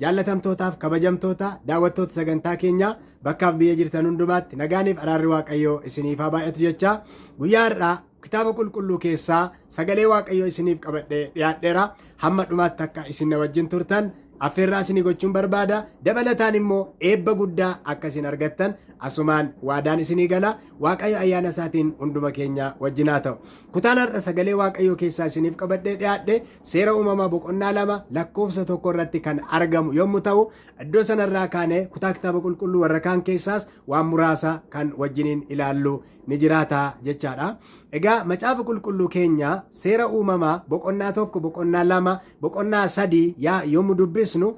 jaallatamtootaaf kabajamtoota daawwattoota sagantaa keenyaa bakkaaf biyya jirtan hundumaatti nagaaniif araarri waaqayyoo isiniif haa baay'atu jecha guyyaa har'aa kitaaba qulqulluu keessaa sagalee waaqayyoo isiniif qabadhee dhiyaadheera hamma dhumaatti akka isin na wajjin turtan affeerraa isinii gochuun barbaada dabalataan immoo eebba guddaa akka isin argattan asumaan waadaan isinii gala Waaqayyo ayyaana isaatiin hunduma keenya wajjin haa ta'u. Kutaan har'a sagalee Waaqayyoo keessaa isiniif qabadhee dhiyaadhe seera uumamaa boqonnaa lama lakkoofsa tokko irratti kan argamu yommuu ta'u iddoo sanarraa kaanee kutaa kitaaba qulqulluu warra kaan keessaas waan muraasa kan wajjiniin ilaallu ni jiraata jechaadha. Egaa macaafa qulqulluu keenya seera uumamaa boqonnaa tokko boqonnaa lama boqonnaa sadii yaa yommuu dubbisnu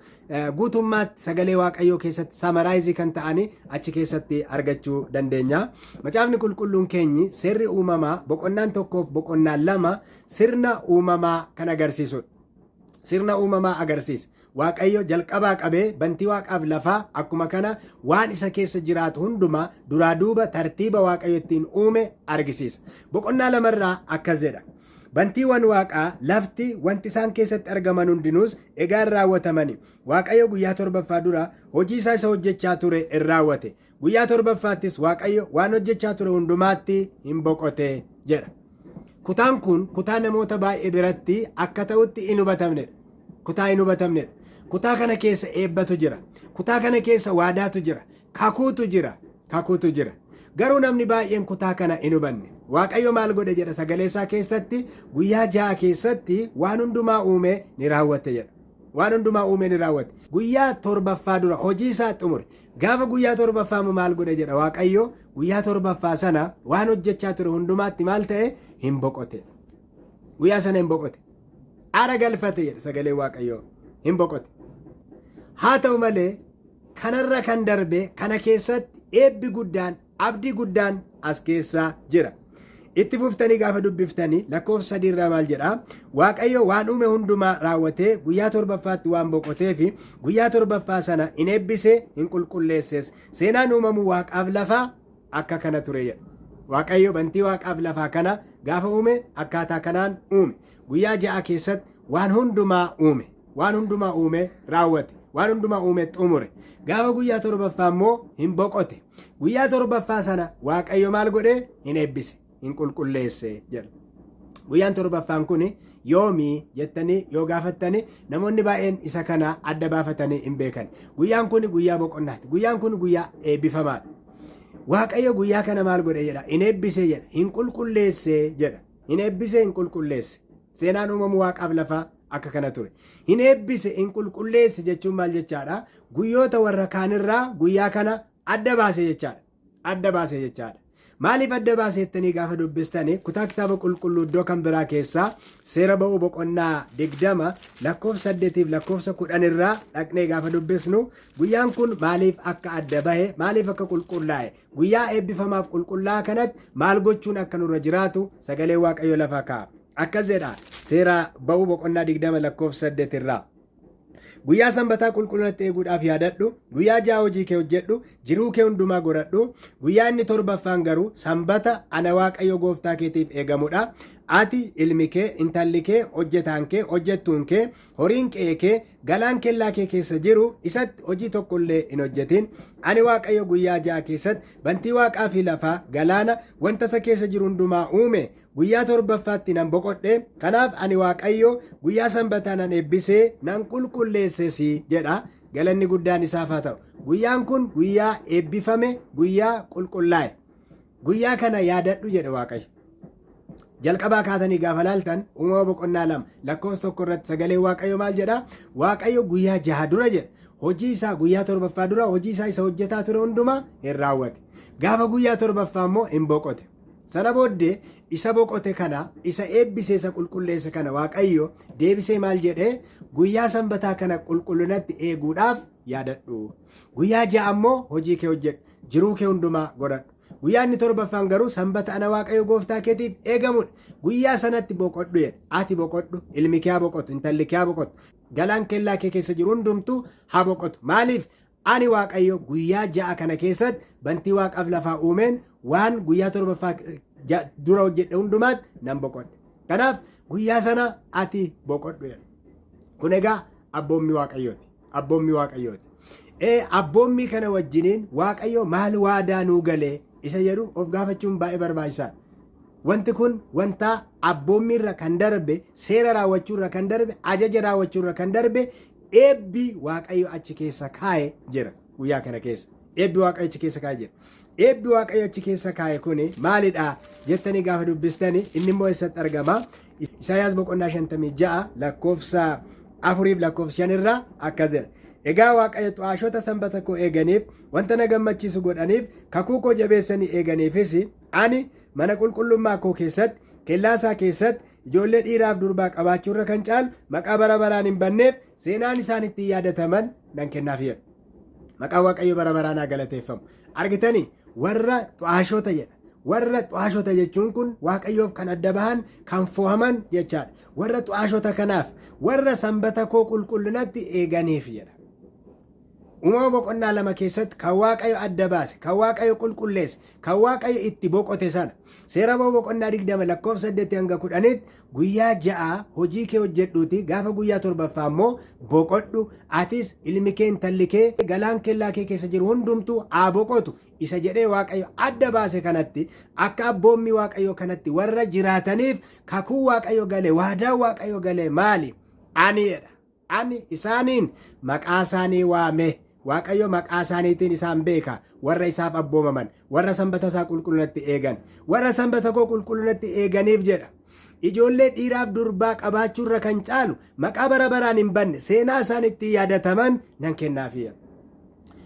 guutummaatti sagalee waaqayyoo keessatti samaraayizii kan ta'anii achi keessatti argachuu dandeenya. Macaafni qulqulluun keenyi seerri uumamaa boqonnaan tokkoof boqonnaan lama sirna uumamaa kan agarsiisudha. Sirna uumamaa agarsiisa. Waaqayyo jalqabaa qabee bantii waaqaaf lafaa akkuma kana waan isa keessa jiraatu hundumaa duraa duuba tartiiba waaqayyo ittiin uume argisiisa. Boqonnaa lamarraa akkas jedha. Bantiiwwan waaqaa, lafti, wanti isaan keessatti argaman hundinuus egaa in raawwatamani. Waaqayyo guyyaa torbaffaa dura hojii isaa isa hojjechaa ture in raawwate. Guyyaa torbaffaattis Waaqayyo waan hojjechaa ture hundumaatti in boqote jedha. Kutaan kun kutaa namoota baay'ee biratti akka ta'utti in hubatamnedha. Kutaa in hubatamnedha. Kutaa kana keessa eebbatu jira. Kutaa kana keessa waadaatu jira. Kakuutu jira, kakuutu jira. Garuu namni baay'een kutaa kana hin hubanne. Waaqayyo maal godhe jedha sagalee isaa keessatti guyyaa ja'a keessatti waan hundumaa uumee ni raawwate jedha. Waan hundumaa uumee ni raawwate. Guyyaa torbaffaa dura hojii isaa xumure. Gaafa guyyaa torbaffaa immoo maal godhe jedha Waaqayyo guyyaa torbaffaa sana waan hojjechaa ture hundumaatti maal ta'e hin boqote. Guyyaa sana hin boqote. ara galfate jedha sagalee waaqayyoo hin boqote haa ta'u malee kanarra kan darbe kana keessatti eebbi guddaan abdii guddaan as keessaa jira itti fuftanii gaafa dubbiftanii lakkoofsa sadii irraa maal jedha waaqayyo waan uume hundumaa raawwatee guyyaa torbaffaatti waan boqotee fi guyyaa torbaffaa sana hin eebbise hin qulqulleesses seenaan uumamuu waaqaaf lafaa akka kana ture jedha. Waaqayyo bantii waaqaaf lafaa kana gaafa uume akkaataa kanaan uume. Guyyaa ja'a keessatti waan hundumaa uume. Waan hundumaa uume raawwate. Waan hundumaa uume xumure. Gaafa guyyaa torbaffaa immoo hin boqote. Guyyaa torbaffaa sana Waaqayyo maal godhe? Hin eebbise. hin qulqulleesse jedha. Guyyaan torbaffaan kun yoomii jettanii yoo gaafattanii namoonni baay'een isa kana adda baafatanii hin beekan. Guyyaan kun guyyaa boqonnaati. Guyyaan kun guyyaa eebbifamaadha. Waaqayyo guyyaa kana maal godhe jedha? Hin eebbisee jedha. Hin qulqulleessee jedha. Hin eebbisee hin qulqulleesse. Seenaan uumamuu waaqaaf lafaa akka kana ture. Hin eebbise hin qulqulleesse jechuun maal jechaadha? Guyyoota warra kaanirraa guyyaa kana adda baase jechaadha. adda baase jechaadha. Maaliif adda baase jettanii gaafa dubbistanii kutaa kitaaba qulqulluu iddoo kan biraa keessaa seera ba'uu boqonnaa digdama lakkoofsa saddeetiif lakkoofsa kudhan irraa dhaqnee gaafa dubbisnu guyyaan kun maaliif akka adda bahe maaliif akka qulqullaa'e guyyaa eebbifamaaf qulqullaa'aa kanatti maal gochuun akka nurra jiraatu sagalee waaqayyo lafa kaa'a. Akkas jedha seera ba'uu boqonnaa digdama lakkoofsa saddeet irraa. Guyyaa sanbataa qulqullinatti eeguudhaaf yaadadhu, guyyaa ja'a hojii kee hojjedhu, jiruu kee hundumaa godhadhu, guyyaa inni torbaffaan garuu sanbata ana Waaqayyo gooftaa keetiif eegamudha. Ati, ilmi kee, intalli kee, hojjetaan kee, hojjettuun kee, horiin qe'ee kee, galaan kellaa kee keessa jiru isatti hojii tokko illee hin hojjetin. Ani Waaqayyo guyyaa ja'a keessatti bantii waaqaa fi lafaa, galaana, wanta isa keessa jiru hundumaa uume, Guyyaa torbaffaatti nan boqodhe, kanaaf ani Waaqayyo guyyaa sanbataa nan eebbise, nan qulqulleesses jedha. Galanni guddaan isaaf haa ta'u. Guyyaan kun guyyaa eebbifame, guyyaa qulqullaa'e. Guyyaa kana yaadadhu jedhe Waaqayyo. Jalqabaa kaatanii gaafa laaltan uumama boqonnaa lama lakkoofsa tokko irratti sagalee Waaqayyo maal jedha? Waaqayyo guyyaa jaha dura jedha. Hojii isaa guyyaa torbaffaa dura hojii isaa isa hojjetaa ture hundumaa hin raawwate. Gaafa guyyaa torbaffaa immoo hin boqote. Sana booddee isa boqote kana, isa eebbise, isa qulqulleesse kana Waaqayyo deebisee maal jedhee guyyaa sanbataa kana qulqullinatti eeguudhaaf yaadadhu. Guyyaa ja'a immoo hojii kee hojjedhu, jiruu kee hundumaa godhadhu. Guyyaa inni torbaffaan garuu sanbata ana Waaqayyo gooftaa keetiif eegamudha. Guyyaa sanatti boqodhu jedhe. Ati boqodhu, ilmi kee haa boqotu, intalli kee haa boqotu, galaan kellaa kee keessa jiru hundumtuu haa boqotu. Maaliif? Ani Waaqayyo guyyaa ja'a kana keessatti bantii waaqaaf lafaa uumeen waan guyyaa torbaffaa ja- dura hojjedhe hundumaatti nan boqodhe. Kanaaf guyyaa sana ati boqodhu jedhe. Kun egaa abboommii waaqayyooti. Abboommii waaqayyooti. Ee, abboommii kana wajjiniin waaqayyo maal waadaa nuu galee isa jedhu of gaafachuun baay'ee barbaachisaadha. Wanti kun wanta abboommiirra kan darbe, seera raawwachuurra kan darbe, ajaja raawwachuurra kan darbe Eebbi Waaqayyo achi keessa kaa'e jira guyyaa kana keessa. Eebbi Waaqayyo achi keessa kaa'e jira. Eebbi Waaqayyo achi keessa kaa'e kuni maalidha jettanii gaafa dubbistani inni immoo eessatti argama? Isaayaas boqonnaa 56 lakkoofsa afuriif lakkoofsa shan irraa akkas jedha. Egaa Waaqayyo xu'aashota sanbata koo eeganiif wanta na gammachiisu godhaniif kakuu koo jabeessanii eeganiifis ani mana qulqullummaa koo keessatti kellaa isaa keessatti Ijoollee dhiiraaf durbaa qabaachuurra kan caalu maqaa bara baraan hin banneef seenaan isaan ittiin yaadataman nan kennaaf jedha. Maqaan Waaqayyo bara baraan haa galateeffamu. Argitanii warra xu'aashoota jedha. Warra xu'aashoota jechuun kun Waaqayyoof kan adda bahan kan fo'aman jechaadha. Warra xu'aashoota kanaaf warra sanbata koo qulqullinatti eeganiif jedha. Uumama boqonnaa lama keessatti kan Waaqayyo adda baase, kan Waaqayyo qulqulleesse, kan Waaqayyo itti boqote sana. Seera ba'uu boqonnaa 20 lakkoofsa 8 hanga 10tti guyyaa ja'a hojii kee hojjedhuuti gaafa guyyaa torbaffaa immoo boqodhu atis ilmi kee intalli kee galaan kellaa kee keessa jiru hundumtuu haa boqotu isa jedhee Waaqayyo adda baase kanatti akka abboommii Waaqayyo kanatti warra jiraataniif kakuu Waaqayyo gale waadaa Waaqayyo gale maali? Aniidha. Ani isaaniin maqaa isaanii waame, Waaqayyo maqaa isaaniitiin isaan beeka, warra isaaf abboomaman, warra sanbata isaa qulqullinatti eegan, warra sanbata koo qulqullinatti eeganiif jedha. Ijoollee dhiiraaf durbaa qabaachuurra kan caalu maqaa bara baraan hin banne seenaa isaan ittiin yaadataman nan kennaafii.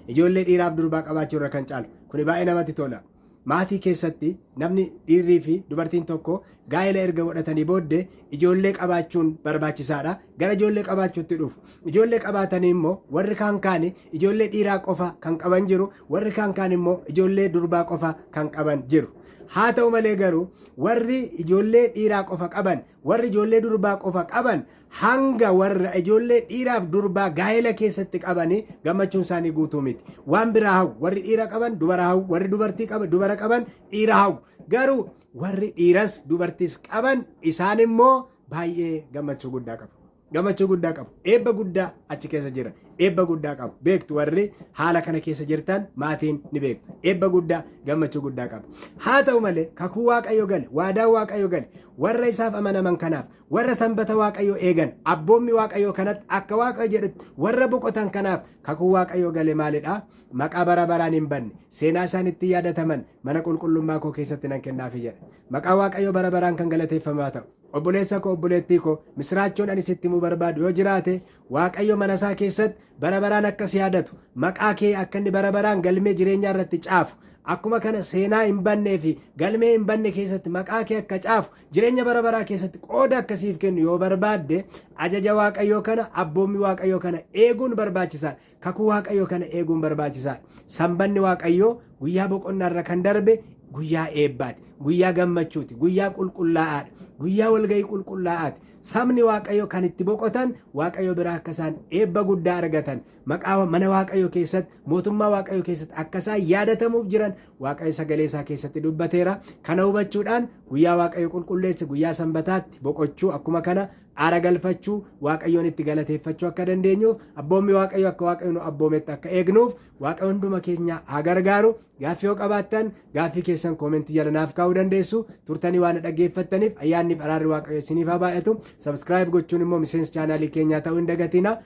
Ijoollee dhiiraaf durbaa qabaachuurra kan caalu kuni baay'ee namatti tola. Maatii keessatti namni dhiirrii fi dubartiin tokko gaa'ela erga godhatanii booddee ijoollee qabaachuun barbaachisaadha. Gara ijoollee qabaachuutti dhufu. Ijoollee qabaatanii immoo warri kaan kaani ijoollee dhiiraa qofa kan qaban jiru, warri kaan kaan immoo ijoollee durbaa qofa kan qaban jiru. Haa ta'u malee garuu warri ijoollee dhiiraa qofa qaban, warri ijoollee durbaa qofa qaban hanga warra ijoollee dhiiraaf durbaa gaa'ela keessatti qabanii gammachuun isaanii guutuu miti. Waan biraa hawwu warri dhiira qaban dubara hawwu warri dubartii qaban dubara qaban dhiira hawwu garuu warri dhiiras dubartiis qaban isaan immoo baay'ee gammachuu guddaa qabu. Gammachuu guddaa qabu. Eebba guddaa achi keessa jira. Eebba guddaa qabu. Beektu warri haala kana keessa jirtan maatiin ni beektu. Eebba guddaa gammachuu guddaa qabu. Haa ta'u malee kakuu waaqayyo gale waadaa waaqayyo gale warra isaaf amanaman kanaaf Warra sanbata Waaqayyoo eegan, abboommi Waaqayyoo kanatti akka Waaqayyo jedhutti warra boqotan kanaaf kakuu Waaqayyoo gale maalidha? Maqaa bara baraan hin banne, seenaa isaan ittiin yaadataman mana qulqullummaa koo keessatti nan kennaafi jedha. Maqaa Waaqayyoo bara baraan kan galateeffamaa ta'u. Obboleessa koo obboleettii koo misiraachoon ani sitti himuu barbaadu yoo jiraate Waaqayyo mana isaa keessatti bara baraan akka si yaadatu maqaa kee akka inni bara baraan galmee jireenyaa irratti caafu akkuma kana seenaa hin bannee fi galmee hin banne keessatti maqaa kee akka caafu Jireenya bara baraa keessatti qooda akka siif kennu yoo barbaadde ajaja Waaqayyoo kana abboommii Waaqayyoo kana eeguun barbaachisaa kakuu Waaqayyoo kana eeguun barbaachisaa sanbanni Waaqayyoo guyyaa boqonnaa irra kan darbe guyyaa eebbaati guyyaa gammachuuti guyyaa qulqullaa'aadha guyyaa walga'ii qulqullaa'aati sabni Waaqayyoo kan itti boqotan Waaqayyoo biraa akka isaan eebba guddaa argatan maqaa mana waaqayyoo keessatti mootummaa waaqayyoo keessatti akka isaan yaadatamuuf jiran waaqayyo sagalee isaa keessatti dubbateera kana hubachuudhaan guyyaa waaqayyo qulqulleesse guyyaa sanbataatti boqochuu akkuma kana aara galfachuu waaqayyoon itti galateeffachuu akka dandeenyuuf abboommi waaqayyo akka waaqayyo nu abboometti akka eegnuuf waaqayyo hunduma keenya haa gargaaru Gaaffii yoo qabaattan, gaaffii keessan koomentii jala naaf kaa'uu dandeessu. Turtanii waan na dhaggeeffattaniif ayyaannii fi araarri Waaqayyo isiniif haa baay'atu. Subscribe gochuun immoo miseensa chaanaalii keenyaa ta'uu hin dagatina.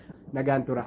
Nagaan tura.